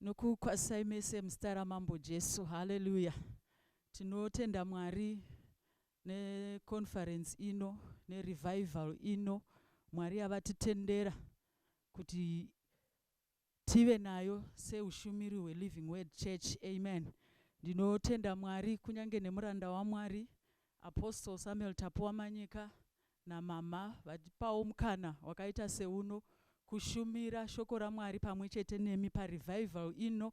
Nokukwazisai mese muzita raMambo Jesu. Haleluya. Tinotenda Mwari ne conference ino ne revival ino Mwari yavatitendera kuti tive nayo seushumiri hwe Living Word Church. Amen. Ndinotenda Mwari kunyange nemuranda waMwari Apostle Samuel Tapuwa Manyika namhamha vatipawo mukana wakaita seuno kushumira shoko raMwari pamwe chete nemi paRevival ino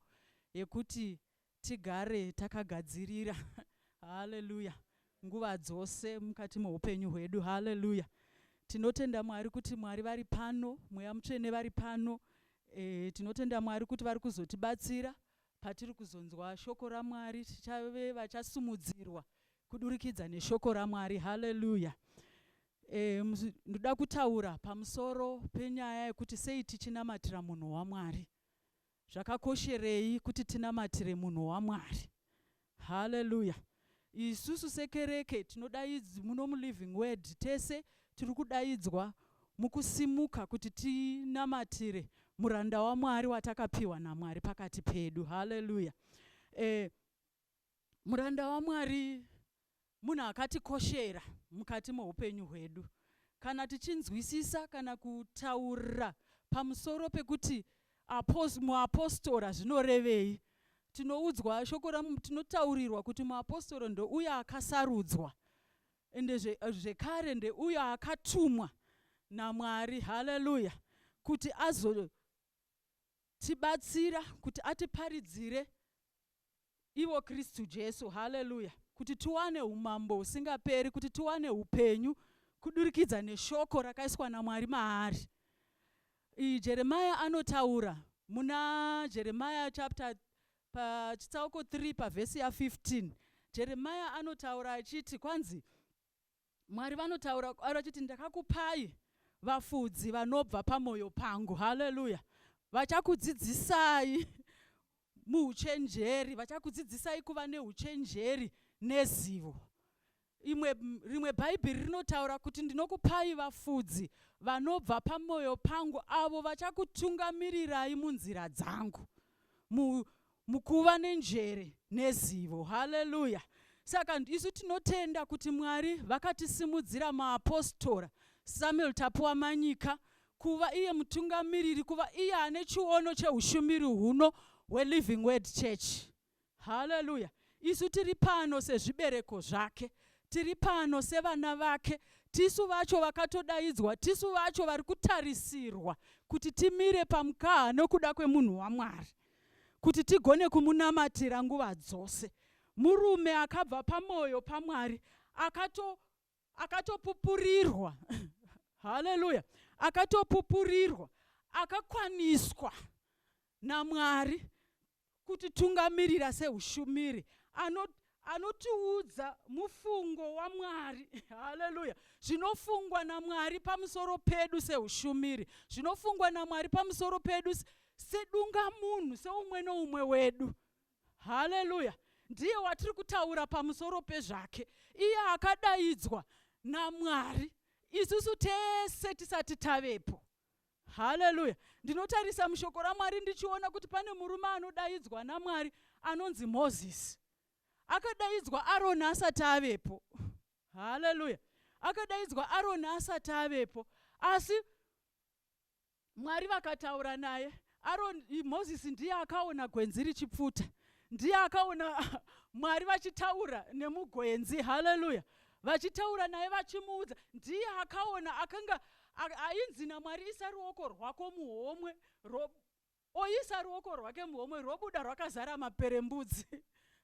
yekuti tigare takagadzirira Hallelujah nguva dzose mukati meupenyu hwedu Hallelujah tinotenda Mwari kuti Mwari vari pano Mweya Mutsvene vari pano eeh tinotenda Mwari kuti vari kuzotibatsira Patiri kuzonzwa Shoko raMwari, tichave vachasumudzirwa kudurikidza neShoko raMwari. Haleluya! E, ndoda kutaura pamusoro penyaya yekuti sei tichinamatira munhu waMwari. Zvakakosherei kuti tinamatire munhu waMwari? Hallelujah. Isusu sekereke tinodaidzw muno muLiving Word tese tiri kudaidzwa mukusimuka kuti tinamatire muranda waMwari watakapiwa naMwari pakati pedu. Hallelujah. Eh, muranda waMwari munhu akatikoshera mukati meupenyu hwedu. Kana tichinzwisisa kana kutaura pamusoro pekuti muapostora zvinorevei, tinoudzwa shoko ramu, tinotaurirwa kuti muapostora ndouyo akasarudzwa ende zvekare ndeuyo akatumwa naMwari, haleluya, kuti azotibatsira kuti atiparidzire ivo Kristu Jesu, haleluya, kuti tiwane umambo husingaperi, kuti tiwane upenyu kudurikidza neshoko rakaiswa naMwari maari. Iyi Jeremiah anotaura muna Jeremiah chapter pachitsauko 3 pavhesi ya 15 Jeremiah anotaura achiti kwanzi Mwari vanotaura kwaari vachiti, Ndakakupai vafudzi vanobva pamwoyo pangu. Haleluya! Vachakudzidzisai muuchenjeri, vachakudzidzisai kuva neuchenjeri nezivo. Imwe, rimwe Bhaibheri rinotaura kuti, Ndinokupai vafudzi vanobva pamwoyo pangu, avo vachakutungamirirai munzira dzangu. Mu, mukuva nenjere nezivo haleluya saka isu tinotenda kuti mwari vakatisimudzira maapostora samuel tapuwa manyika kuva iye mutungamiriri kuva iye ane chiono cheushumiri huno hweliving word church haleluya isu tiri pano sezvibereko zvake tiri pano sevana vake tisu vacho vakatodaidzwa tisu vacho vari kutarisirwa kuti timire pamukaha nokuda kwemunhu wamwari kuti tigone kumunamatira nguva dzose. Murume akabva pamoyo paMwari akato akatopupurirwa haleluya akatopupurirwa akakwaniswa namwari kutitungamirira seushumiri anotiudza mufungo waMwari. Haleluya! Zvinofungwa naMwari pamusoro pedu seushumiri, zvinofungwa naMwari pamusoro pedu sedunga munhu, seumwe noumwe wedu. Haleluya! Ndiye watiri kutaura pamusoro pezvake, iye akadaidzwa naMwari isusu tese tisati tavepo. Haleluya. Ndinotarisa mushoko raMwari ndichiona kuti pane murume anodaidzwa naMwari anonzi Mozisi. Akadaidzwa Aroni asati avepo. Haleluya. Akadaidzwa Aroni asati avepo. Asi Mwari vakataura naye Aron, Moses ndiye akaona gwenzi richipfuta, ndiye akaona Mwari vachitaura nemugwenzi. Haleluya! Vachitaura naye vachimuudza, ndiye akaona akanga ainzi naMwari, isa ruoko rwako muhomwe ro, oisa ruoko rwake muhomwe robuda rwakazara maperembudzi.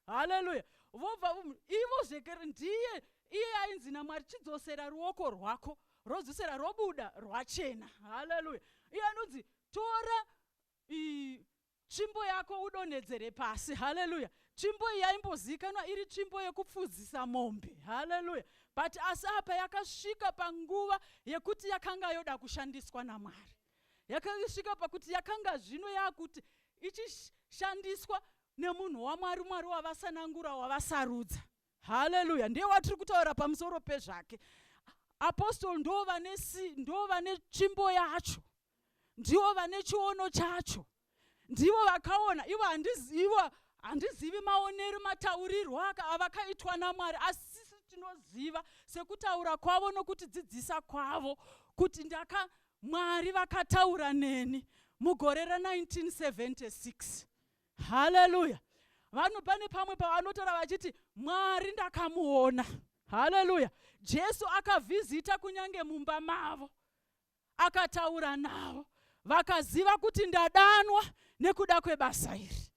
Haleluya! Vobva um, ivo zvekere, ndiye iye ainzi naMwari, chidzosera ruoko rwako rodzosera robuda rwachena. Haleluya! Iye anonzi tora i, tsvimbo yako udonhedzere pasi haleluya tsvimbo iyi yaimbozivikanwa iri tsvimbo yekupfudzisa mombe haleluya but asi apa yakasvika panguva yekuti yakanga yoda kushandiswa namwari yakasvika pakuti yakanga zvino yakuti ichishandiswa nemunhu wamwari mwari wavasanangura wavasarudza haleluya ndiye watiri kutaura pamusoro pezvake apostol ndo vane ndo vane tsvimbo yacho ndivo vane chiono chacho ndivo vakaona ivo handizivo handizivi maonero mataurirwo aka avakaitwa namwari asi tinoziva sekutaura kwavo nokuti dzidzisa kwavo kuti ndaka mwari vakataura neni mugore ra 1976 haleluya vanhu pane pamwe pavanotaura vachiti mwari ndakamuona haleluya jesu akavhizita kunyange mumba mavo akataura navo vakaziva kuti ndadanwa nekuda kwebasa iri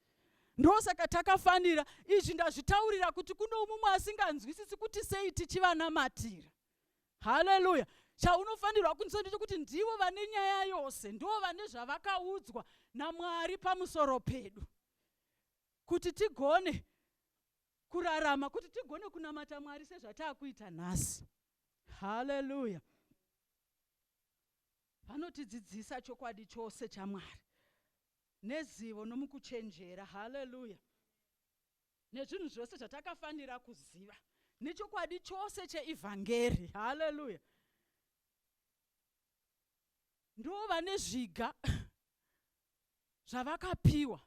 ndosaka takafanira izvi ndazvitaurira kuti kuno mumwe asinganzwisisi kuti sei tichivanamatira haleluya chaunofanirwa kunzwa ndechekuti ndivo vane nyaya yose ndivo vane zvavakaudzwa namwari pamusoro pedu kuti tigone kurarama kuti tigone kunamata mwari sezvataakuita nhasi haleluya vanotidzidzisa chokwadi chose chamwari nezivo nomukuchenjera haleluya Nezvinhu zvose zvatakafanira kuziva nechokwadi chose cheEvhangeri. Haleluya! Ndivo vane zviga zvavakapiwa,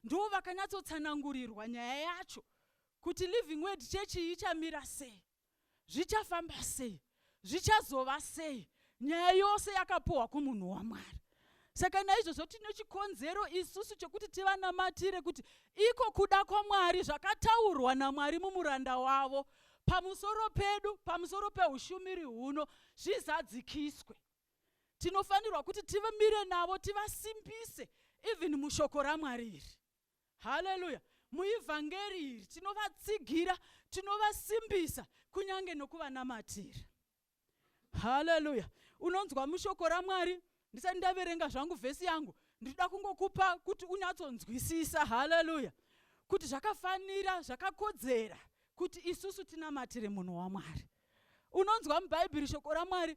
ndivo vakanyatsotsanangurirwa nyaya yacho kuti Living Word chechi ichamira sei. zvichafamba sei zvichazova sei nyaya yose yakapuhwa kumunhu wamwari saka naizvozvo tine chikonzero isusu chokuti tivanamatire kuti iko kuda kwamwari zvakataurwa namwari mumuranda wavo pamusoro pedu pamusoro peushumiri huno zvizadzikiswe tinofanirwa kuti tivamire navo tivasimbise even mushoko ramwari iri haleluya muivhangeri iri tinovatsigira tinovasimbisa kunyange nokuvanamatira haleluya unonzwa mushoko ramwari ndisati ndaverenga zvangu vhesi yangu ndinoda kungokupa kuti unyatsonzwisisa haleluya kuti zvakafanira zvakakodzera kuti isusu tinamatire munhu wamwari unonzwa mubhaibheri shoko ramwari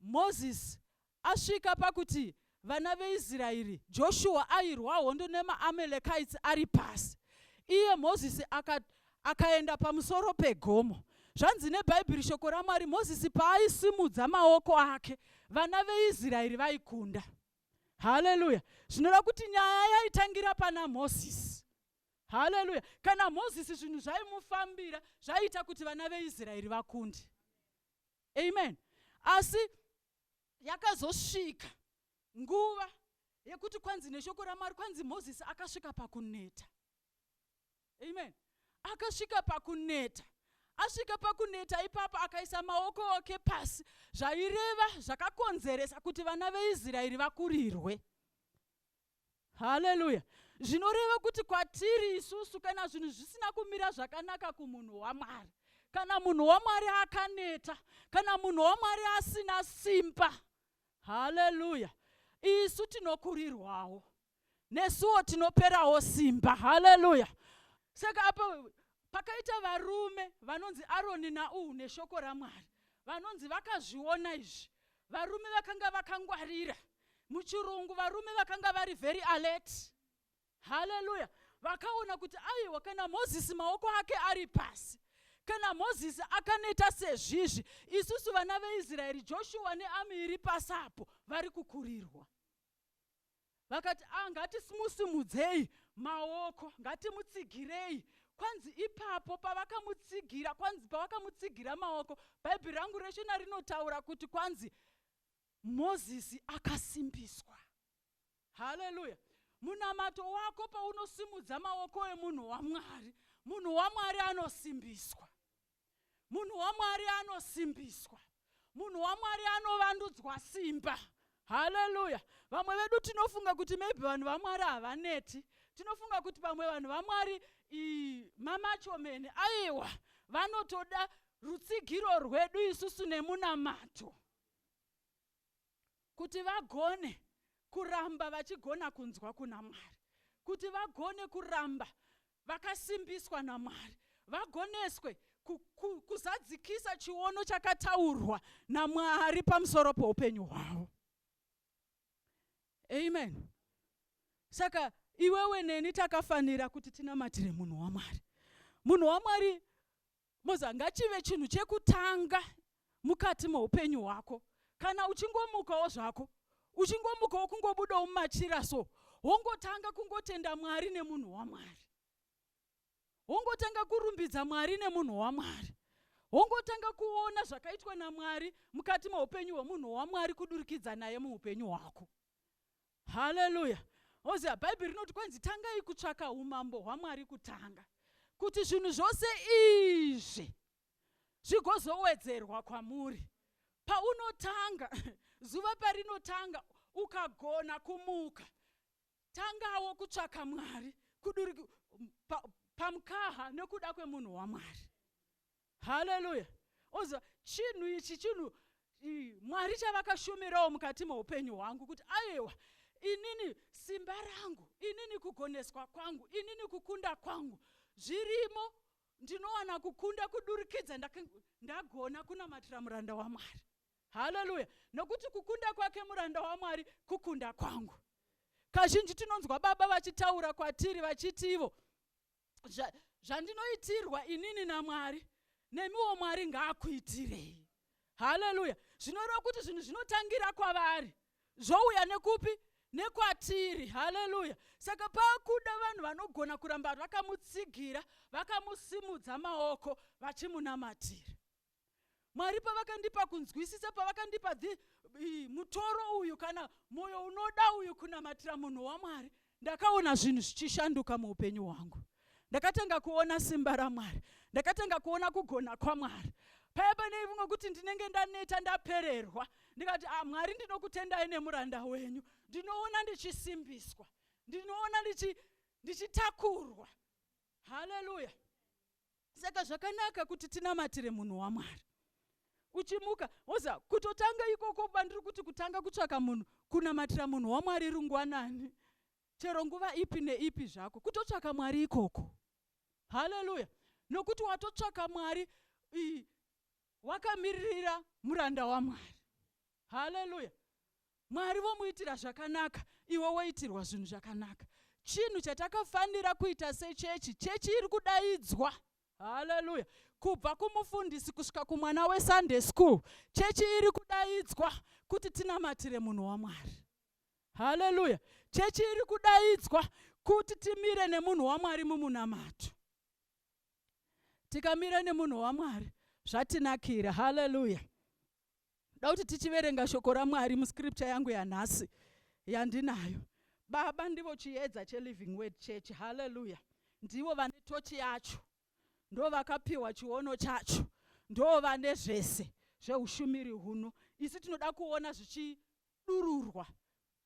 Mozisi asvika pakuti vana veIsraeri, Joshua airwa hondo nemaAmalekites ari pasi. Iye Mozisi aka, akaenda pamusoro pegomo. Zvanzi neBhaibheri, shoko raMwari, Mozisi paaisimudza maoko ake, vana veIsraeri vaikunda. Haleluya! Zvinoreva kuti nyaya yaitangira pana Mozisi. Haleluya! Kana Mozisi zvinhu zvaimufambira, zvaiita kuti vana veIsraeri vakunde. amen asi yakazosvika nguva yekuti kwanzi neshoko ramwari kwanzi mozisi akasvika pakuneta amen akasvika pakuneta asvika pakuneta ipapo akaisa maoko ake pasi zvaireva zvakakonzeresa kuti vana veisraeri vakurirwe haleluya zvinoreva kuti kwatiri isusu kana zvinhu zvisina kumira zvakanaka kumunhu wamwari kana munhu wamwari akaneta kana munhu wamwari asina simba haleluya isu tinokurirwawo nesuwo tinoperawo simba haleluya saka apa pakaita varume vanonzi aroni nauhu neshoko ramwari vanonzi vakazviona izvi Varume vakanga vakangwarira. Muchirungu varume vakanga vari very alert. Haleluya. Vakaona kuti aiwa kana Mozisi maoko ake ari pasi. Kana Mozisi akaneta sezvizvi, isusu vana veIsraeri, Joshua neami iri pasi apo vari kukurirwa. vakati ah, ngatismusimudzei maoko ngatimutsigirei kwanzi ipapo pavakamutsigira kwanzi pavakamutsigira maoko bhaibheri rangu reshona rinotaura kuti kwanzi mozisi akasimbiswa haleluya munamato wako paunosimudza maoko emunhu wamwari munhu wamwari anosimbiswa Munhu waMwari anosimbiswa. Munhu waMwari anovandudzwa simba. Haleluya. Vamwe vedu tinofunga kuti maybe vanhu vaMwari havaneti. Tinofunga kuti pamwe vanhu vaMwari mamachomene. Aiwa, vanotoda rutsigiro rwedu isusu nemunamato. kuti vagone kuramba vachigona kunzwa kuna Mwari, kuti vagone kuramba vakasimbiswa naMwari, vagoneswe ku, ku, kuzadzikisa chiono chakataurwa naMwari pamusoro poupenyu hwavo. Amen. Saka iwewe neni takafanira kuti tinamatire munhu waMwari. Munhu waMwari moza ngachive chinhu chekutanga mukati moupenyu hwako kana uchingomukawo zvako uchingomukawo kungobudawo mumachira so wongotanga kungotenda mwari nemunhu wamwari wongotanga kurumbidza mwari nemunhu wamwari wongotanga kuona zvakaitwa namwari mukati meupenyu hwemunhu wamwari kudurikidza naye muupenyu hwako Haleluya! Oziva, Bhaibheri rinoti kwenzi tangai kutsvaka umambo hwaMwari kutanga, kuti zvinhu zvose izvi zvigozowedzerwa kwamuri. Paunotanga, zuva parinotanga, ukagona kumuka, tangawo kutsvaka Mwari, kuduri pa, pamkaha nekuda kwemunhu waMwari. haleluya oziva chinhu ichi chinhu mwari chavakashumirawo mukati meupenyu hwangu kuti aiwa inini simba rangu inini kugoneswa kwangu inini kukunda kwangu zvirimo ndinowana kukunda kudurikidza ndagona kunamatira muranda wamwari haleluya nokuti kukunda kwake muranda wamwari kukunda kwangu kazhinji tinonzwa baba vachitaura kwatiri vachiti ivo zva, zvandinoitirwa inini namwari nemiwo mwari ngaakuitirei haleluya zvinoreva kuti zvinhu zvinotangira kwavari zvouya nekupi nekwatiri haleluya saka pakuda vanhu vanogona kuramba vakamutsigira vakamusimudza maoko vachimunamatira Mwari pavakandipa kunzwisisa, pavakandipa the, i, mutoro uyu kana mwoyo unoda uyu kunamatira munhu waMwari, ndakaona zvinhu zvichishanduka muupenyu hwangu. Ndakatanga kuona simba raMwari, ndakatanga kuona kugona kwaMwari. Paya pane vimwe kuti ndinenge ndaneta ndapererwa, ndikati ah, Mwari ndinokutendai nemuranda wenyu, ndinoona ndichisimbiswa, ndinoona ndichitakurwa. Haleluya! saka zvakanaka kuti tinamatire munhu wamwari uchimuka woza kutotanga ikoko bandiri kuti kutanga kutsvaka munhu kunamatira munhu wamwari rungwanani chero nguva ipi neipi zvako kutotsvaka mwari ikoko haleluya nokuti watotsvaka mwari wakamirira muranda wamwari Haleluya! Mwari vomuitira zvakanaka, iwe woitirwa zvinhu zvakanaka. Chinhu chatakafanira kuita sechechi, chechi iri kudaidzwa haleluya kubva kumufundisi kusvika kumwana wesunday school chechi iri kudaidzwa kuti tinamatire munhu wamwari haleluya chechi iri kudaidzwa kuti timire nemunhu wamwari mumunamato tikamira nemunhu wamwari zvatinakira haleluya da kuti tichiverenga shoko ramwari muscripture yangu yanhasi yandinayo baba ndivo chiedza cheliving word church halleluya ndivo vane tochi yacho ndo vakapiwa chiono chacho ndo vane zvese zveushumiri huno isu tinoda kuona zvichidururwa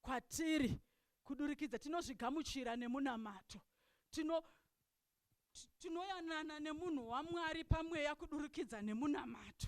kwatiri kudurikidza tinozvigamuchira nemunamato tino tinoyanana nemunhu wamwari pamweya kudurikidza nemunamato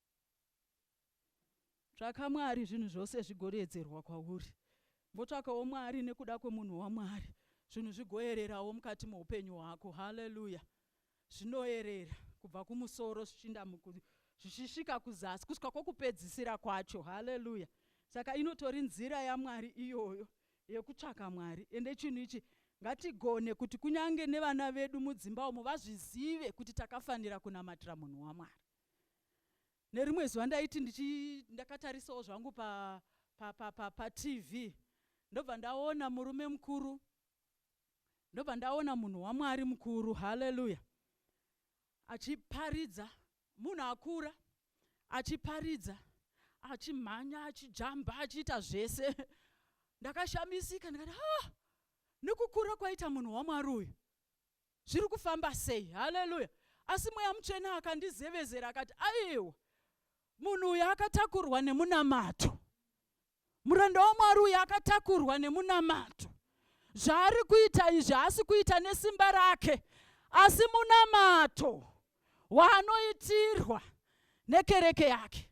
Tsvaka Mwari zvinhu zvose zvigodeedzerwa kwauri. Motsvakawo Mwari nekuda kwemunhu waMwari zvinhu zvigoererawo mukati meupenyu hwako. Hallelujah. Zvinoerera kubva kumusoro zvichinda muku, zvichisvika kuzasi kusvika kwokupedzisira kwacho. Hallelujah. Saka inotori nzira yaMwari iyoyo yekutsvaka Mwari. Ende chinhu ichi ngatigone kuti kunyange nevana vedu mudzimba umo vazvizive kuti takafanira kunamatira munhu waMwari. Nerimwe zuva ndaiti ndichi ndakatarisawo zvangu pa pa pa pa pa TV ndobva ndaona murume mukuru ndobva ndaona munhu waMwari mukuru hallelujah achiparidza munhu akura achiparidza achimhanya achijamba achiita zvese ndakashamisika ndikati ah nekukura kwaita munhu waMwari uyu zviri kufamba sei haleluya asi mweya mutsvene akandizevezera akati aiwa munhu uyu akatakurwa nemunamato muranda wamwari uyu akatakurwa nemunamato zvaari kuita izvi haasi kuita nesimba rake asi munamato waanoitirwa nekereke yake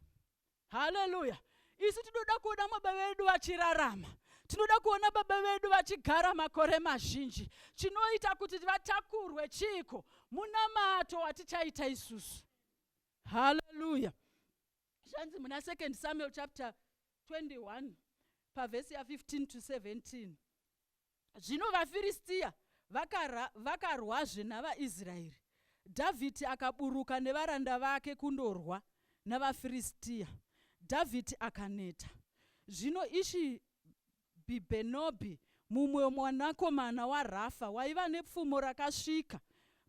haleluya isu tinoda kuona baba vedu vachirarama tinoda kuona baba vedu vachigara makore mazhinji chinoita kuti vatakurwe chiiko munamato watichaita isusu haleluya zvanzi muna 2 samuel chapter 21 pavhesi ya15 to 17 Zvino vaFiristia vakara, vakarwazve navaIsraeri. Dhavhidhi akaburuka nevaranda vake kundorwa navaFiristia. Dhavhidhi akaneta. Zvino Ishi Bhibhenobhi, mumwe mwanakomana waRafa, waiva nepfumo rakasvika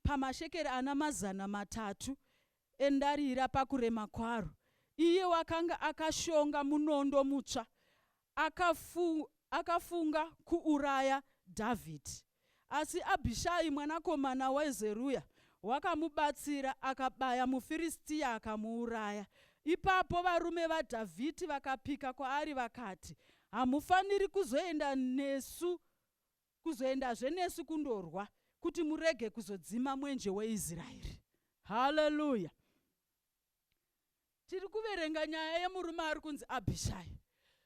pamashekeri ana mazana matatu endarira pakurema kwaro. Iye wakanga akashonga munondo mutsva akafu, akafunga kuuraya Dhavhidhi. Asi Abhishai mwanakomana waZeruya wakamubatsira, akabaya muFiristia akamuuraya. Ipapo varume vaDhavhidhi vakapika kwaari vakati, Hamufaniri kuzoenda nesu kuzoendazve nesu kundorwa kuti murege kuzodzima mwenje weIsraeri. Haleluya! Tiri kuverenga nyaya yemurume ari kunzi Abhishai.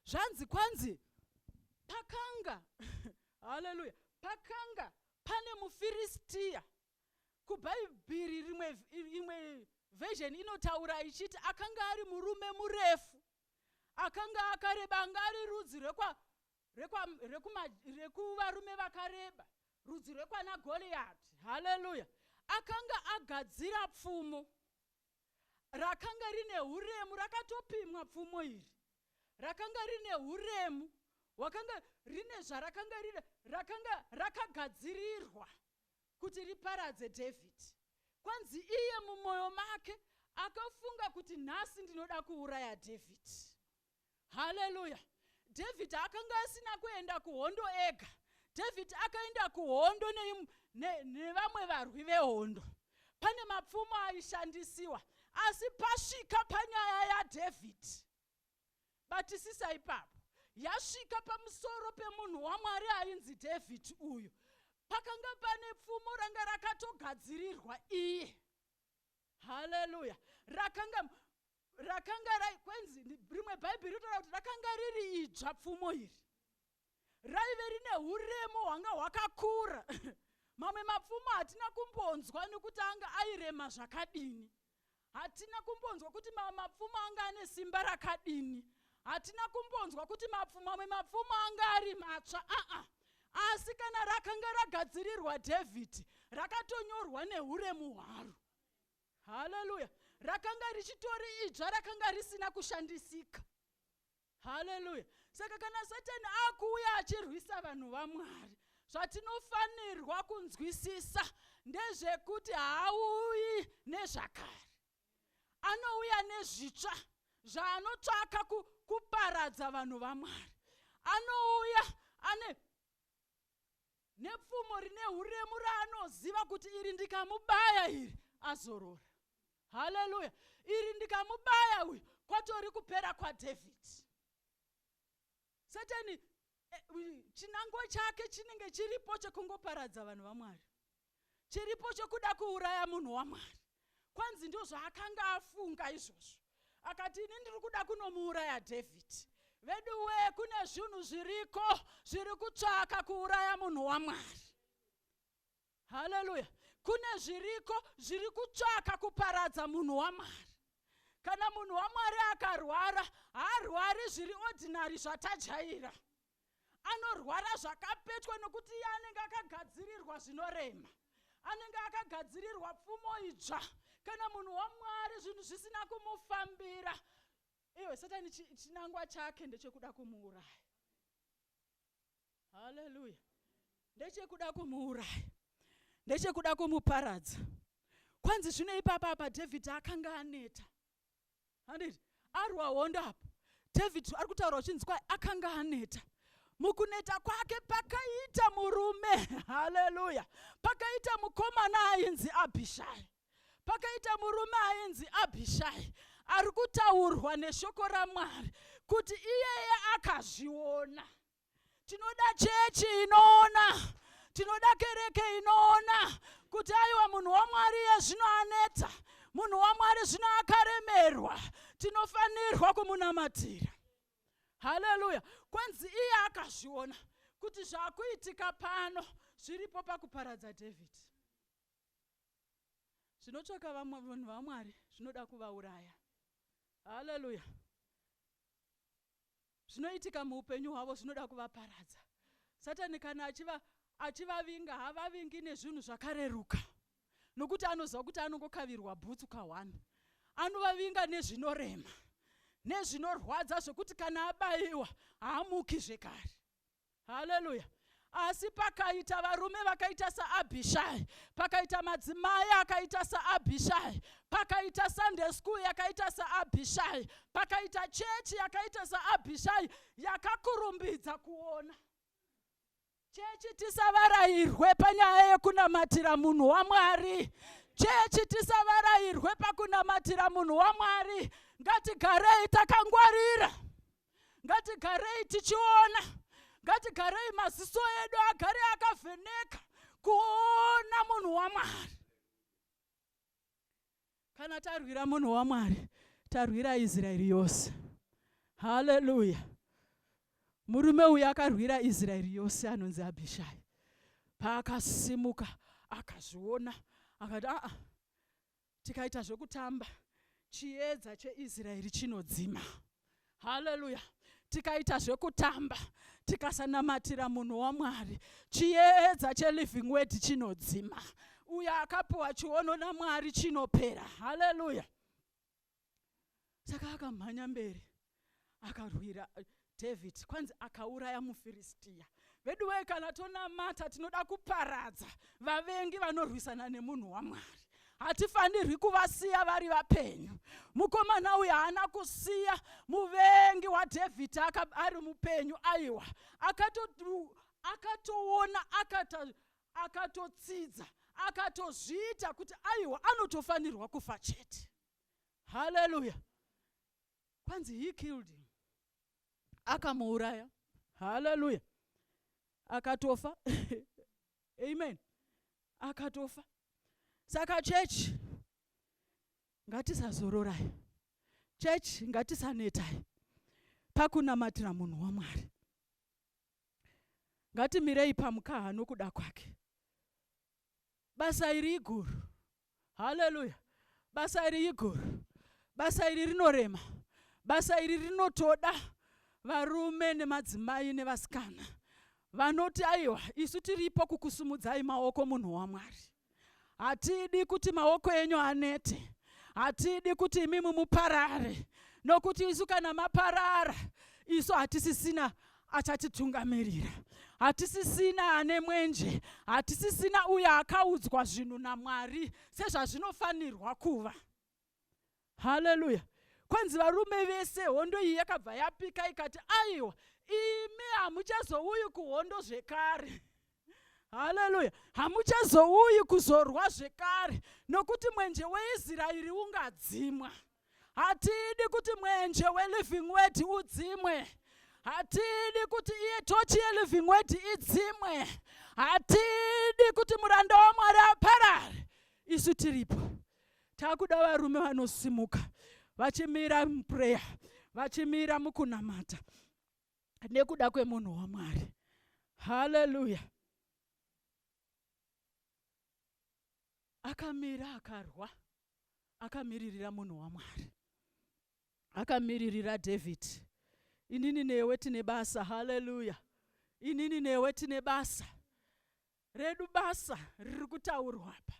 Zvanzi kwanzi pakanga haleluya pakanga pane mufiristiya kubhaibhiri rimwe imwe version inotaura ichiti akanga ari murume murefu akanga akareba anga ari rudzi rwekwa rekwa, rekuma, rekuvarume vakareba rudzi rwekwana goriyati haleluya akanga agadzira pfumo rakanga rine uremu rakatopimwa pfumo iri rakanga rine uremu wakanga rine zvarakanga rine rakanga rakagadzirirwa kuti riparadze dhavhidhi kwanzi iye mumwoyo make akafunga kuti nhasi ndinoda kuuraya dhavhidhi haleluya dhavhidhi akanga asina kuenda kuhondo ega dhavhidhi akaenda kuhondo nevamwe ne, ne varwi vehondo pane mapfumo aishandisiwa asi pasvika panyaya yadhavhidhi batisisa ipapo yasvika pamusoro pemunhu wamwari ainzi dhavhidhi uyu pakanga pane pfumo ranga rakatogadzirirwa iye haleluya rakanga rakanga rai kwenzi rimwe bhaibheri ritaura kuti rakanga riri idzva pfumo iri raive rine uremu hwanga hwakakura mamwe mapfumo hatina kumbonzwa nekuti anga airema zvakadini hatina kumbonzwa kuti mamwe mapfumo anga ane simba rakadini hatina kumbonzwa kuti mamwe mapfumo anga ari matsva aa ah -ah asi kana rakanga ragadzirirwa dhavhidhi rakatonyorwa neuremu hwaro haleluya rakanga richitori idzva rakanga risina kushandisika haleluya saka kana satani akuuya achirwisa vanhu vamwari zvatinofanirwa kunzwisisa ndezvekuti haauyi nezvakare anouya nezvitsva zvaanotsvaka kuparadza vanhu vamwari anouya ane nepfumo rine uremu raanoziva kuti iri ndikamubaya iri azorora haleluya iri ndikamubaya uyu kwatori kupera kwadhavhidhi satani eh, chinangwa chake chinenge chiripo chekungoparadza vanhu vamwari chiripo chokuda kuuraya munhu waMwari. Kwanzi ndozvaakanga afunga izvozvo. Akati ini ndiri kuda kunomuuraya David. Veduwee kune zvinhu zviriko zviri kutsvaka kuuraya munhu waMwari. Haleluya. Kune zviriko zviri kutsvaka kuparadza munhu waMwari. Kana munhu waMwari akarwara, haarwari zviri ordinary zvatajaira. anorwara zvakapetwa nokuti iye anenge akagadzirirwa zvinorema anenge akagadzirirwa pfumo idzva kana munhu wamwari zvinhu zvisina kumufambira iwe satani chinangwa chake ndechekuda kumuuraya haleluya ndechekuda kumuuraya ndechekuda kumuparadza kwanzi zvino ipapa apa dhavhidhi akanga aneta handiti arwa hondo apo david ari kutaura uchinzi kwai akanga aneta mukuneta kwake pakaita murume haleluya pakaita mukomana ainzi abhishai pakaita murume ainzi abhishai ari kutaurwa neshoko ramwari kuti iyeye akazviona tinoda chechi inoona tinoda kereke inoona kuti aiwa munhu wamwari iye zvino anetsa munhu wamwari zvino akaremerwa tinofanirwa kumunamatira haleluya kwenzi iye akazviona kuti zvakuitika pano zviripo pakuparadza david zvinotsvaka vanhu vamwari zvinoda kuvauraya haleluya Zvinoitika muupenyu hwavo zvinoda kuvaparadza. Satani kana achiva, achivavinga havavingi nezvinhu zvakareruka nokuti anoziva kuti anongokavirwa bhutsu kahwani. Anovavinga nezvinorema nezvinorwadza zvekuti kana abaiwa haamuki zvekare. haleluya asi pakaita varume vakaita saabhishai pakaita madzimai akaita saabhishai pakaita sunday school yakaita saabhishai pakaita chechi yakaita saabhishai yakakurumbidza kuona chechi tisavarairwe panyaya yekunamatira munhu wamwari chechi tisavarairwe pakunamatira munhu wamwari ngatigarei takangwarira ngatigarei tichiona ngatigarei maziso edu agare akavheneka kuona munhu wamwari kana tarwira munhu wamwari tarwira israeri yose haleluya murume uyu akarwira israeri yose anonzi abhishai paakasimuka akazviona akati aa tikaita zvekutamba chiedza cheisraeri chinodzima haleluya tikaita zvekutamba tikasanamatira munhu wamwari chiedza cheliving word chinodzima uyo akapiwa chiono namwari chinopera haleluya saka akamhanya mberi akarwira eh, david kwanzi akauraya mufiristiya vedu wee kana tonamata tinoda kuparadza vavengi vanorwisana nemunhu wamwari hatifanirwi kuvasiya vari vapenyu mukomana uyu haana kusiya muvengi wadhavhidhi ari mupenyu aiwa akatoona akatotsidza akatozviita kuti aiwa anotofanirwa kufa chete haleluya kwanzi he killed him akamuuraya haleluya akatofa amen akatofa saka chechi ngatisazororai chechi ngatisanetai pakunamatira munhu wamwari ngatimirei pamukaha nokuda kwake basa iri iguru haleluya basa iri iguru basa iri rinorema basa iri rinotoda varume nemadzimai nevasikana vanoti aiwa isu tiripo kukusumudzai maoko munhu wamwari hatidi kuti maoko enyu anete hatidi kuti imimi muparare nokuti isu kana maparara isu hatisisina achatitungamirira hatisisina ane mwenje hatisisina uyo akaudzwa zvinhu namwari sezvazvinofanirwa kuva haleluya kwanzi varume vese hondo iyi yakabva yapika ikati aiwa imi hamuchazouyi kuhondo zvekare haleluya hamuchazouyi kuzorwa zvekare nokuti mwenje weisraeri ungadzimwa hatidi kuti mwenje weliving word udzimwe hatidi kuti iye tochi yeliving word idzimwe hatidi kuti muranda wamwari aparare isu tiripo takuda varume vanosimuka vachimira muprayer vachimira mukunamata nekuda kwemunhu wamwari haleluya akamira akarwa akamiririra munhu wamwari akamiririra david inini newe tine basa haleluya inini newe tine basa redu basa riri kutaurwa apa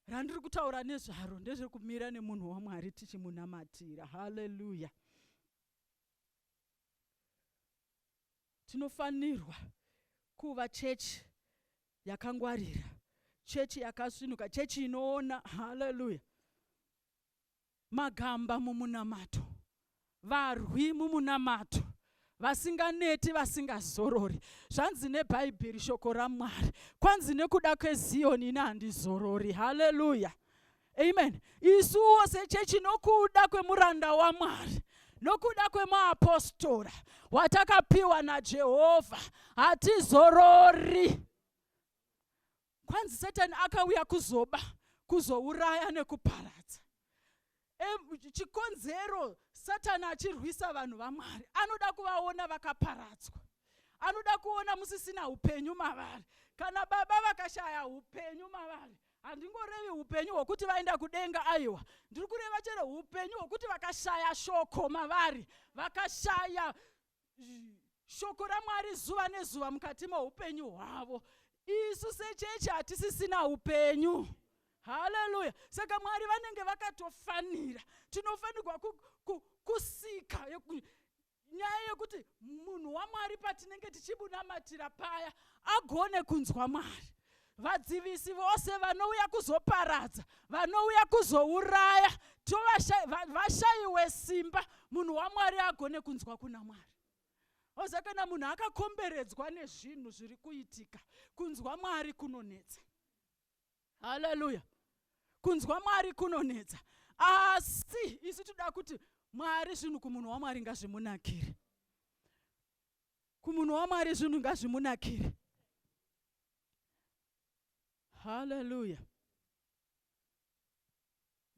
randiri kutaura nezvaro ndezvekumira nemunhu wamwari tichimunamatira haleluya Tinofanirwa kuva chechi yakangwarira, chechi yakasvinuka, chechi inoona. Haleluya! Magamba mumunamato, varwi mumunamato, vasinganeti, vasingazorori. Zvanzi neBhaibheri, shoko raMwari, kwanzi nekuda kweZiyoni ini handizorori. Haleluya! amen isuwo sechechi nokuda kwemuranda wamwari nokuda kwemaapostora watakapiwa najehovha hatizorori kwanzi satani akauya kuzoba kuzouraya nekuparadza e, chikonzero satani achirwisa vanhu vamwari anoda kuvaona vakaparadzwa anoda kuona musisina upenyu mavari kana baba vakashaya upenyu mavari handingorevi upenyu hwokuti vaenda kudenga aiwa ndiri kureva chero upenyu hwokuti vakashaya shoko mavari vakashaya shoko ramwari zuva nezuva mukati moupenyu hwavo isu sechechi hatisisina upenyu haleluya saka mwari vanenge vakatofanira tinofanirwa kusika Inyaya yekuti munhu waMwari patinenge tichibunamatira paya agone kunzwa Mwari. Vadzivisi vose vanouya kuzoparadza, vanouya kuzouraya, tovashaiwe simba munhu waMwari agone kunzwa kuna Mwari. Oza kana munhu akakomberedzwa nezvinhu zviri kuitika, kunzwa Mwari kunonetsa. haleluya kunzwa mwari kunonetsa asi isu tinoda kuti mwari zvinhu kumunhu wamwari ngazvimunakire kumunhu wamwari zvinhu ngazvimunakire haleluya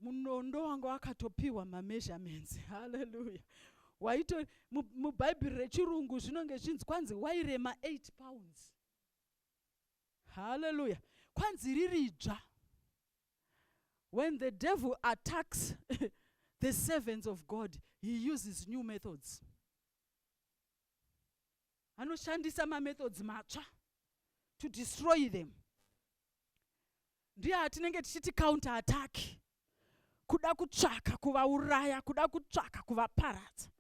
munondo wanga wakatopiwa mameasurements haleluya waito mubhaibheri rechirungu zvinonge zvinzi kwanzi wairema 8 pounds Hallelujah. Kwanzi riridzva. When the devil attacks the servants of God, he uses new methods. Anoshandisa mamethods matsva to destroy them. Ndiye atinenge tichiti counter attack. Kuda kutsvaka kuvauraya, kuda kutsvaka kuvaparadza.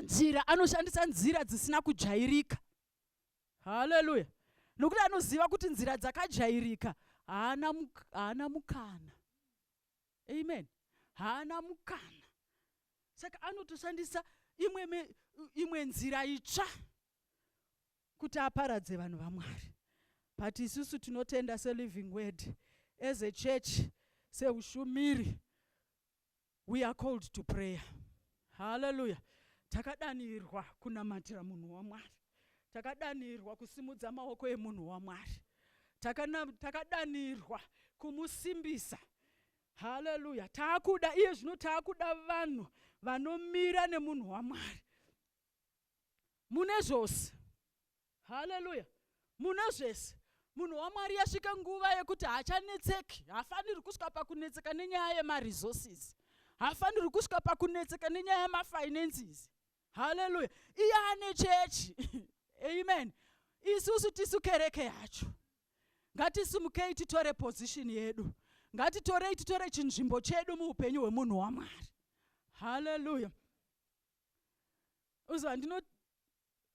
Nzira anoshandisa nzira dzisina kujairika. haleluya nokuti anoziva kuti nzira dzakajairika haana muk haana mukana amen haana mukana saka anotoshandisa imwe, me, imwe nzira itsva kuti aparadze vanhu vamwari but isusu tinotenda seliving word as a church seushumiri We are called to prayer. Hallelujah. Takadanirwa kunamatira munhu waMwari. Takadanirwa kusimudza maoko emunhu waMwari. Takana, takadanirwa kumusimbisa. Hallelujah. Taakuda iye zvino taakuda vanhu vanomira nemunhu waMwari. mune zvose haleluya mune zvese munhu wamwari yasvika nguva yekuti haachanetseki haafaniri kusvika pakunetseka nenyaya yemaresources haafaniri kusvika pakunetseka nenyaya yemafinances haleluya iye ane chechi amen isusu tisu kereke yacho ngatisimukei titore position yedu ngatitorei titore chinzvimbo chedu muupenyu hwemunhu wamwari haleluya uziva ndino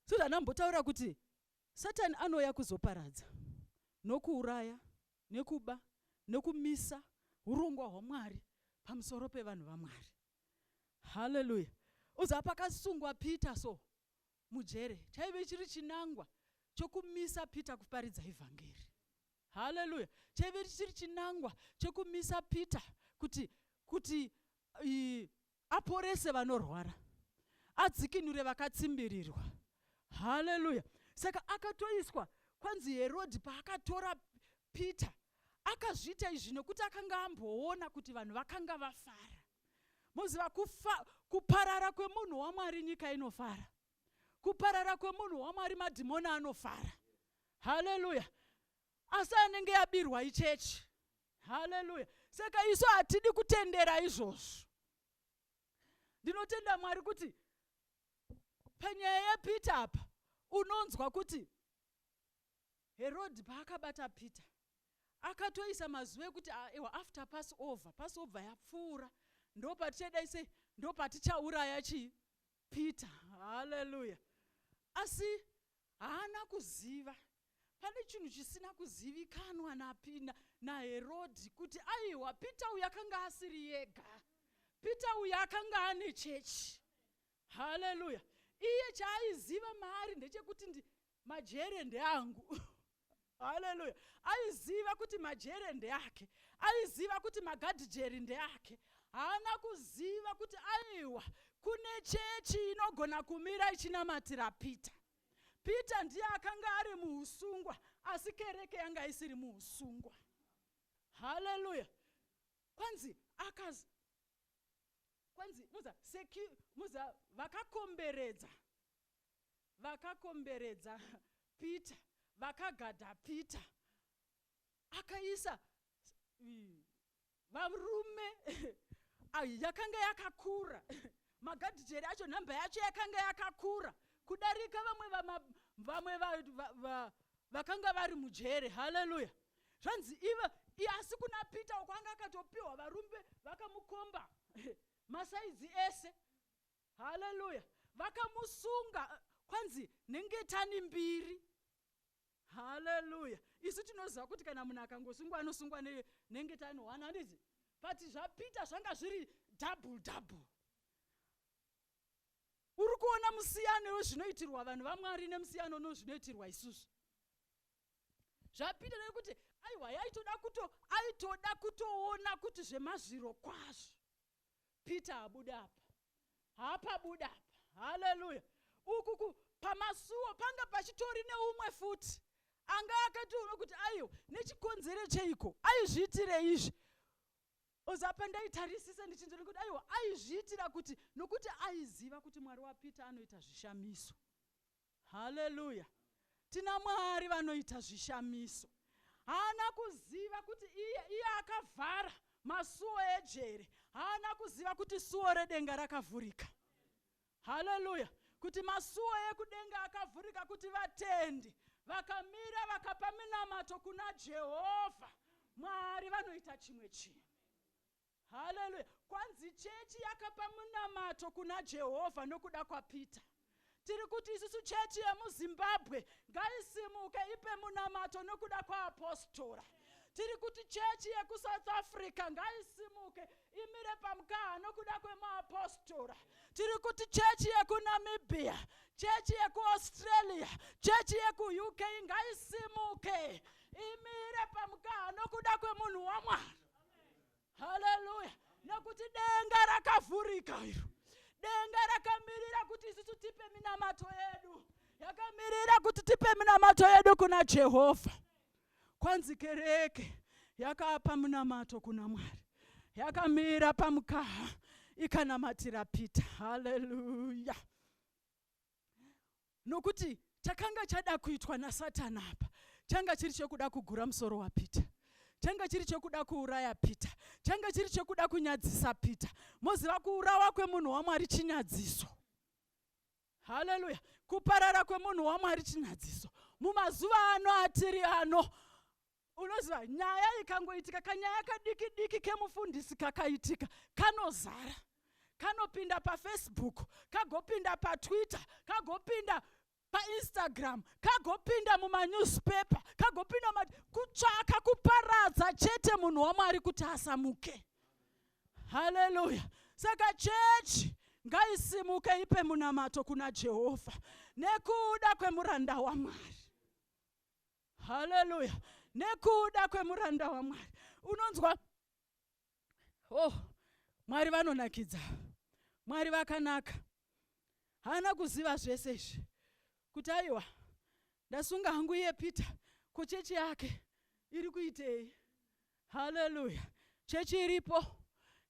susan ambotaura kuti satani anouya kuzoparadza nokuuraya nekuba nokumisa urongwa hwamwari pamusoro pevanhu vamwari haleluya uziva pakasungwa peter so mujere chaive chiri chinangwa chokumisa peter kuparidza evhangeri haleluya chaive chiri chinangwa chokumisa peter kuti kuti i, aporese vanorwara adzikinure vakatsimbirirwa haleluya saka akatoiswa kwanzi herodhi paakatora peter akazviita izvi nokuti akanga amboona kuti vanhu vakanga vafara moziva kuparara kwemunhu wamwari nyika inofara kuparara kwemunhu wamwari madhimoni anofara haleluya asi anenge yabirwa ichechi haleluya saka isu hatidi kutendera izvozvo ndinotenda mwari kuti panyaya yepeter apa unonzwa kuti herodhi paakabata peter akatoisa mazuva ekuti ah, ewa after pass over pass over yapfuura ndopatichadai sei ndopatichauraya chii Peter. Hallelujah. Asi haana kuziva. Pane chinhu chisina kuzivikanwa napina naHerodhi kuti aiwa Peter uyu akanga asiri yega. Peter uyu akanga ane chechi. Hallelujah. Iye chaaiziva maari ndechekuti ndi, majere ndeangu haleluya aiziva kuti majere ndeake aiziva kuti magadhijeri ndeake haana kuziva kuti aiwa kune chechi inogona kumira ichinamatira peter peter ndiye akanga ari muusungwa asi kereke yanga isiri muusungwa haleluya kwanzi akaz kwanzi muza secu muza vakakomberedza vakakomberedza Peter vakagada Peter akaisa varume yakanga yakakura magadhijeri acho nhamba yacho yakanga yakakura kudarika vamwe vamwe vakanga vari mujere haleluya zvanzi iva asi kuna peter uko anga akatopiwa varumbe vakamukomba masaizi ese Haleluya. Vakamusunga kwanzi nengetani mbiri. Haleluya. Isu tinoziva kuti kana munhu akangosungwa anosungwa ne, nengetani one handizi. But zvaPeter zvanga zviri double double. Uri kuona musiyano wezvinoitirwa vanhu vaMwari nemusiyano nozvinoitirwa isusu. Zvapinda nekuti aiwa yaitoda kuto aitoda kutoona kuti zvemazviro kwazvo Peter abuda apa hapa buda apa haleluya ukuku pamasuwo panga pachitori neumwe futi anga akatoona kuti aiwa nechikonzero cheiko aizviitire izvi ozapa ndaitarisisa ndichinzvona kuti aiwa aizviitira kuti nokuti aiziva kuti mwari wapeter anoita zvishamiso Hallelujah. Tina Mwari vanoita zvishamiso. Haana kuziva kuti iye, iye akavhara masuo ejere. Haana kuziva kuti suo redenga rakavhurika. Hallelujah. Kuti masuo ekudenga akavhurika kuti vatendi vakamira vakapa minamato kuna Jehovha. Mwari vanoita chimwe chinhu. Haleluya! Kwanzi chechi yakapa munamato kuna Jehovha nokuda kwaPeter. Tiri kuti isusu chechi yemuZimbabwe ngaisimuke ipe munamato nokuda kwaapostora. Tiri kuti chechi yekuSouth Africa ngaisimuke imire pamukaha nokuda kwemuapostora. Tiri kuti chechi yekuNamibia, chechi yekuAustralia, chechi yekuUK ngaisimuke imire pamukaha nokuda kwemunhu waMwari. haleluya nekuti denga rakavhurika iro denga rakamirira kuti isusu tipe minamato yedu yakamirira kuti tipe minamato yedu kuna jehovha kwanzi kereke yakapa munamato kuna mwari yakamira pamukaha ikanamatira pita haleluya nokuti chakanga chada kuitwa nasatani apa changa chiri chekuda kugura musoro wapeter changa chiri chekuda kuuraya peter changa chiri chekuda kunyadzisa peter moziva kuurawa kwemunhu wamwari chinyadziso haleluya kuparara kwemunhu wamwari chinyadziso mumazuva ano atiri ano unoziva nyaya ikangoitika kanyaya kadiki diki kemufundisi kakaitika kanozara kanopinda pafacebook kagopinda patwitter kagopinda painstagram kagopinda mumanewspaper kagopinda ma kutsvaka kuparadza chete munhu wamwari kuti asamuke haleluya saka chechi ngaisimuke ipe munamato kuna jehovha nekuda kwemuranda wamwari haleluya nekuda kwemuranda wamwari unonzwa oh mwari vanonakidza mwari vakanaka haana kuziva zvese izvi kuti aiwa ndasunga hangu iye peter ko chechi yake iri kuitei haleluya chechi iripo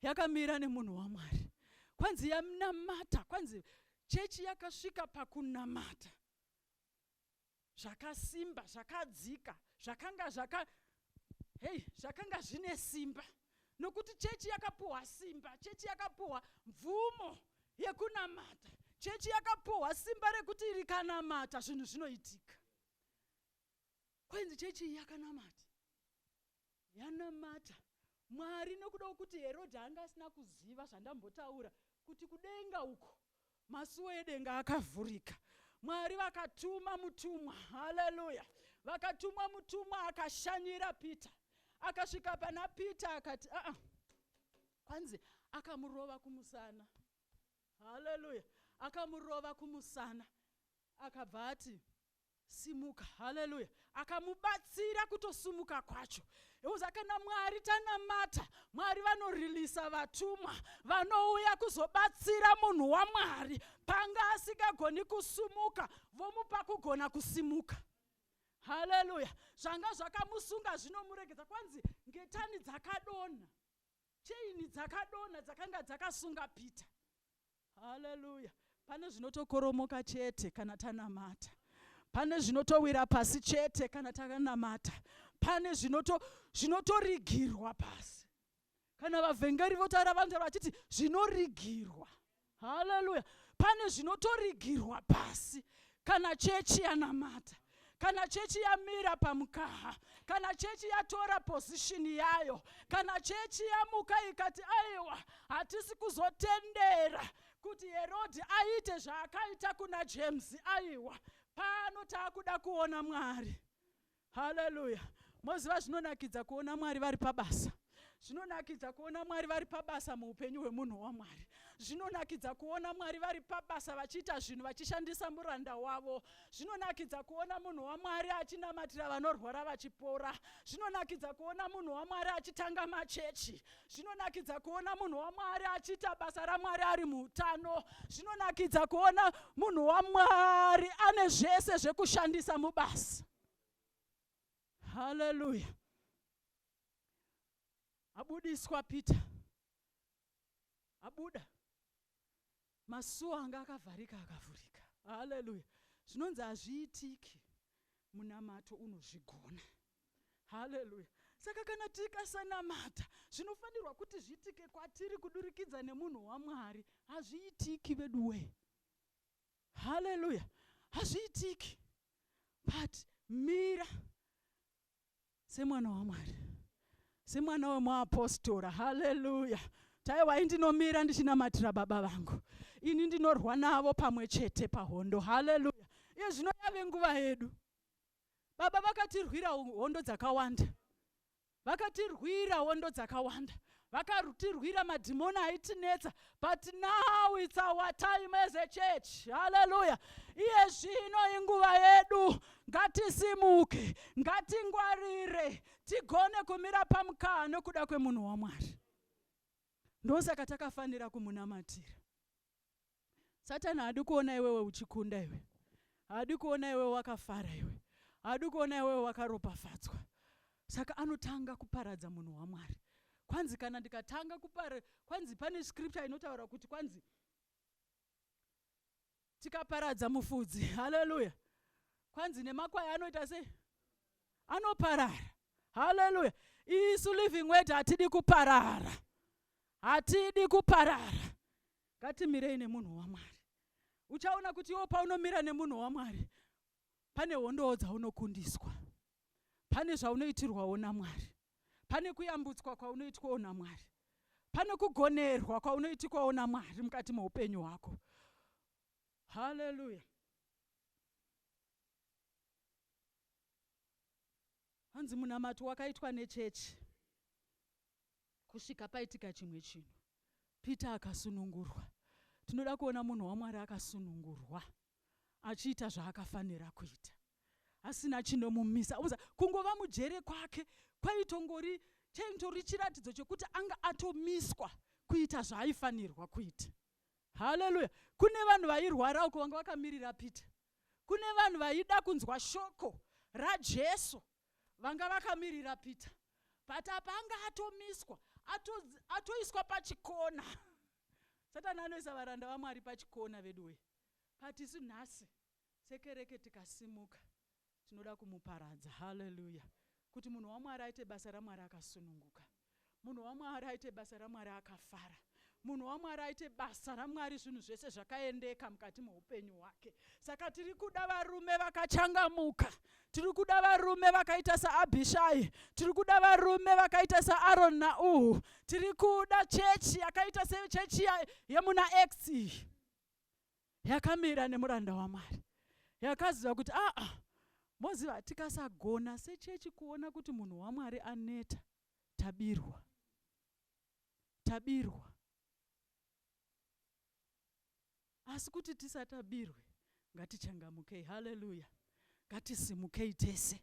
yakamira nemunhu wamwari kwanzi yanamata kwanzi chechi yakasvika pakunamata zvakasimba zvakadzika zvakanga zvaka hei zvakanga zvine simba nokuti chechi yakapuhwa simba chechi yakapuhwa mvumo yekunamata chechi yakapuhwa simba rekuti rikanamata zvinhu zvinoitika kwenzi chechi iyi yakanamata Yanamata Mwari nokuda kwokuti Herodhi anga asina kuziva zvandambotaura kuti kudenga uko masuwo edenga akavhurika. Mwari vakatuma mutumwa, haleluya, vakatumwa mutumwa akashanyira Peter, akasvika pana Peter akati aa, ah, ah. kwanzi akamurova kumusana, haleluya, akamurova kumusana, akabva ati Simuka. Haleluya. Akamubatsira kutosumuka kwacho. Euza kana Mwari tanamata, Mwari vanorilisa vatumwa vanouya kuzobatsira munhu waMwari panga asingagoni kusumuka, vomupa kugona kusimuka. Haleluya. Zvanga zvakamusunga zvinomuregedza kwanzi ngetani dzakadonha. Cheini dzakadonha dzakanga dzakasunga Peter. Haleluya. Pane zvinotokoromoka chete kana tanamata. Pane zvinotowira pasi chete kana takanamata. Pane zvinoto zvinotorigirwa pasi. Kana vavhengeri votaura vanotaura vachiti zvinorigirwa. Haleluya. Pane zvinotorigirwa pasi kana chechi yanamata kana chechi yamira pamukaha kana chechi yatora pozishini yayo kana chechi yamuka ikati aiwa hatisi kuzotendera kuti herodhi aite zvaakaita kuna james aiwa pano taakuda kuona mwari Haleluya. Moziva zvinonakidza kuona Mwari vari pabasa. Zvinonakidza kuona Mwari vari pabasa muupenyu hwemunhu waMwari. Zvinonakidza kuona Mwari vari pabasa vachiita zvinhu vachishandisa muranda wavo. Zvinonakidza kuona munhu waMwari achinamatira vanorwara vachipora. Zvinonakidza kuona munhu waMwari achitanga machechi. zvinonakidza kuona munhu wamwari achiita basa ramwari ari muutano zvinonakidza kuona munhu wamwari ane zvese zvekushandisa mubasa haleluya abudiswa peter abuda Masuo anga akavharika akavhurika. Haleluya. Zvinonzi hazviitiki munamato unozvigona. Haleluya. Saka kana tikasanamata zvinofanirwa kuti zviitike kwatiri kudurikidza nemunhu waMwari. Hazviitiki veduwee. Haleluya. Hazviitiki. But mira Semwana waMwari, semwana wemuapostora, haleluya, taiwai ndinomira ndichinamatira baba vangu, ini ndinorwa navo pamwe chete pahondo, haleluya. Iye zvino yave nguva yedu. Baba vakatirwira hondo dzakawanda, vakatirwira hondo dzakawanda, vakarutirwira madhimoni aitinetsa but now its our time as a church haleluya iye zvino inguva yedu ngatisimuke ngatingwarire tigone kumira pamukaa nokuda kwemunhu wamwari ndosaka takafanira kumunamatira Satani haadi kuona iwewe uchikunda iwe. Haadi kuona iwewe wakafara iwe. Haadi kuona iwewe wakaropafadzwa. Saka anotanga kuparadza munhu waMwari. Kwanzi kana ndikatanga kupara, kwanzi pane scripture inotaura kuti kwanzi tikaparadza mufudzi, haleluya. Kwanzi nemakwai anoita sei? Anoparara. Haleluya. Isu living word hatidi kuparara. hatidi kuparara ngatimirei nemunhu wamwari uchaona kuti iwo paunomira nemunhu wamwari pane hondowo dzaunokundiswa pane zvaunoitirwawo namwari pane kuyambutswa kwaunoitwawo namwari pane kugonerwa kwaunoitikwawo namwari mukati meupenyu hwako haleluya hanzi munamato wakaitwa nechechi Kusvika paitika chimwe chinhu. Peter akasunungurwa. Tinoda kuona munhu waMwari akasunungurwa, achiita zvaakafanira kuita, asina chinomumisa. Unoziva, kungova mujere kwake kwaitongori, chaitori chiratidzo chekuti anga atomiswa kuita zvaaifanirwa kuita. Haleluya! Kune vanhu vairwara uko vanga vakamirira Peter. Kune vanhu vaida kunzwa shoko raJesu. Vanga vakamirira Peter but apa anga atomiswa ato, atoiswa pachikona. Satani anoisa varanda vaMwari pachikona veduwee but isu nhasi sekereke tikasimuka tinoda kumuparadza. Hallelujah. Kuti munhu waMwari aite basa raMwari akasununguka. Munhu waMwari aite basa raMwari akafara. Munhu waMwari aite basa raMwari zvinhu zvese zvakaendeka mukati meupenyu hwake. Saka tiri kuda varume vakachangamuka. Tiri kuda varume vakaita saAbhishai. Tiri kuda varume vakaita saAron naUhu. Tiri kuda chechi yakaita sechechi yemuna Acts iyi. yakamira nemuranda waMwari yakaziva kuti aa moziva tikasagona sechechi kuona kuti munhu waMwari aneta tabirwa tabirwa asi kuti tisatabirwe ngatichangamukei haleluya ngatisimukei tese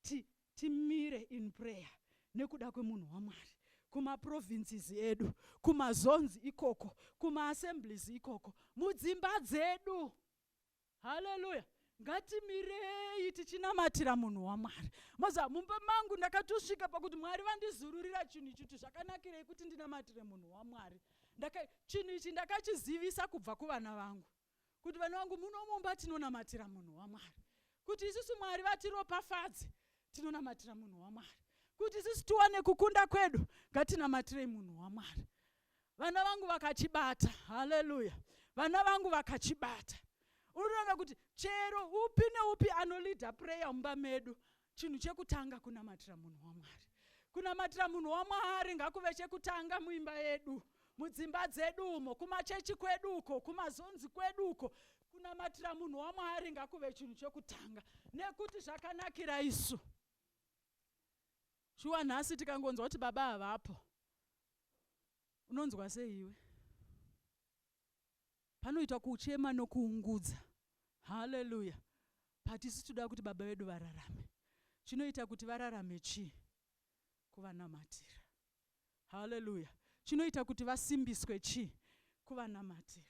ti timire in prayer nekuda kwemunhu waMwari kuma provinces edu kuma zones ikoko kuma assemblies ikoko mudzimba dzedu haleluya ngatimirei tichinamatira munhu wamwari moza mumba mangu ndakatosvika pakuti mwari vandizururira chinhu ichi kuti zvakanakirei kuti ndinamatire munhu wamwari chinhu ichi ndakachizivisa kubva kuvana vangu kuti vana vangu muno mumba tinonamatira munhu wamwari kuti isusu mwari vatiropafadze tinonamatira munhu wamwari kuti isusu tiwane kukunda kwedu ngatinamatirei munhu wamwari vana vangu vakachibata haleluya vana vangu vakachibata unoona kuti chero upi neupi anolida prayer mumba medu chinhu chekutanga kunamatira munhu wamwari kunamatira munhu wamwari ngakuve chekutanga muimba yedu mudzimba dzedu umo kumachechi kwedu uko kumazonzi kwedu uko kunamatira munhu wamwari ngakuve chinhu chekutanga nekuti zvakanakira isu shuwa nhasi tikangonzwa kuti baba havapo unonzwa seiwe Panoitwa kuchema nokuungudza. Hallelujah. But isu tinoda kuti Baba vedu vararame. Chinoita kuti vararame chii? Kuvanamatira. Hallelujah. Chinoita kuti vasimbiswe chii? Kuvanamatira.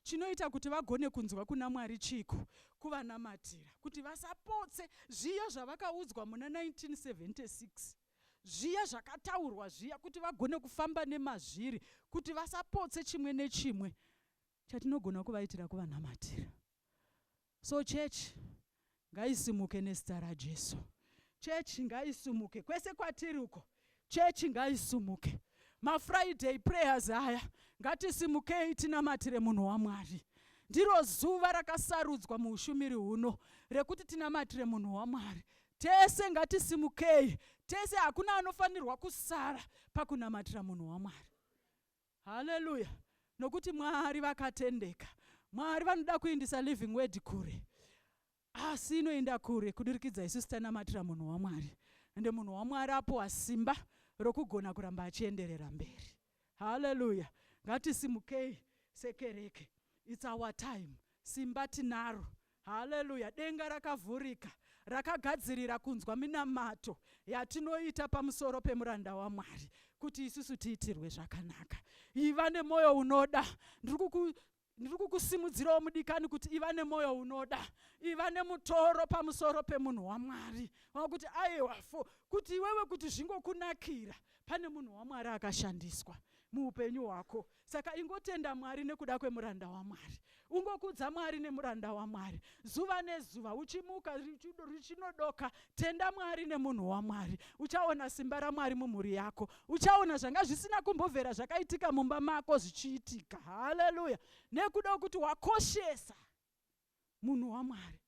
Chinoita kuti vagone kunzwa kuna Mwari chiiko? Kuvanamatira. Kuti vasapotse zviya zvavakaudzwa muna 1976. zviya zvakataurwa zviya kuti vagone kufamba nemazviri kuti vasapotse chimwe nechimwe chatinogona kuvaitira kuvanamatira so church ngaisimuke nezita rajesu chechi ngaisumuke kwese kwatiri uko chechi ngaisumuke mafriday prayers aya ngatisimukei tinamatire munhu wamwari ndiro zuva rakasarudzwa muushumiri huno rekuti tinamatire munhu wamwari Tese ngatisimukei, tese hakuna anofanirwa kusara pakunamatira munhu waMwari. Haleluya! Nokuti Mwari vakatendeka. Mwari vanoda kuindisa living word kure, asi inoinda kure kudirikidza isusu tanamatira munhu waMwari, ende munhu waMwari apowa simba rokugona kuramba achienderera mberi. Hallelujah ngatisimukei sekereke it's our time simba tinaro Hallelujah denga rakavhurika rakagadzirira kunzwa minamato yatinoita pamusoro pemuranda waMwari kuti isusu tiitirwe zvakanaka iva nemoyo unoda ndiri ndiri kukusimudzirawo mudikani kuti iva nemwoyo unoda iva nemutoro pamusoro pemunhu wamwari wakuti aiwa fo kuti iwewe kuti zvingokunakira pane munhu wamwari akashandiswa muupenyu hwako saka ingotenda mwari nekuda kwemuranda wamwari ungokudza mwari nemuranda wamwari zuva nezuva uchimuka richinodoka Tenda Mwari nemunhu waMwari. Uchaona simba raMwari mumhuri yako. Uchaona zvanga zvisina kumbovera zvakaitika mumba mako zvichiitika. Haleluya. Nekuda kwekuti wakoshesa munhu waMwari.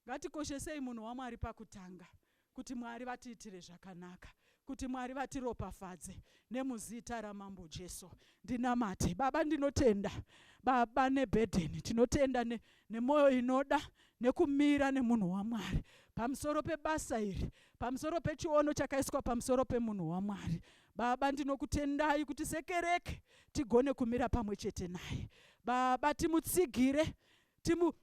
Ngatikoshesei munhu waMwari pakutanga kuti Mwari vatiitire zvakanaka. Kuti Mwari vatiropafadze nemuzita ramambo Jesu ndinamate baba ndinotenda baba nebhedheni tinotenda ne, nemoyo inoda nekumira nemunhu waMwari pamusoro pebasa iri pamusoro pechiono chakaiswa pamusoro pemunhu waMwari baba ndinokutendai kuti sekereke tigone kumira pamwe chete naye baba timutsigire timu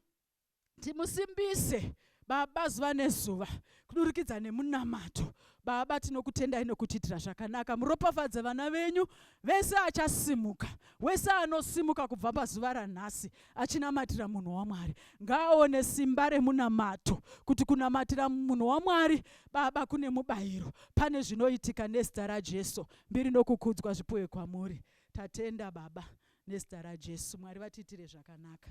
timusimbise Baba zuva nezuva kudurikidza nemunamato. Baba tinokutendai nokutiitira zvakanaka. Muropafadze vana venyu vese achasimuka, wese anosimuka kubva pazuva ranhasi achinamatira munhu waMwari. Ngaaone simba remunamato kuti kunamatira munhu waMwari Baba kune mubayiro. Pane zvinoitika nezita raJesu. Mbiri nokukudzwa zvipuwe kwamuri. Tatenda Baba nezita raJesu. Mwari vatiitire zvakanaka.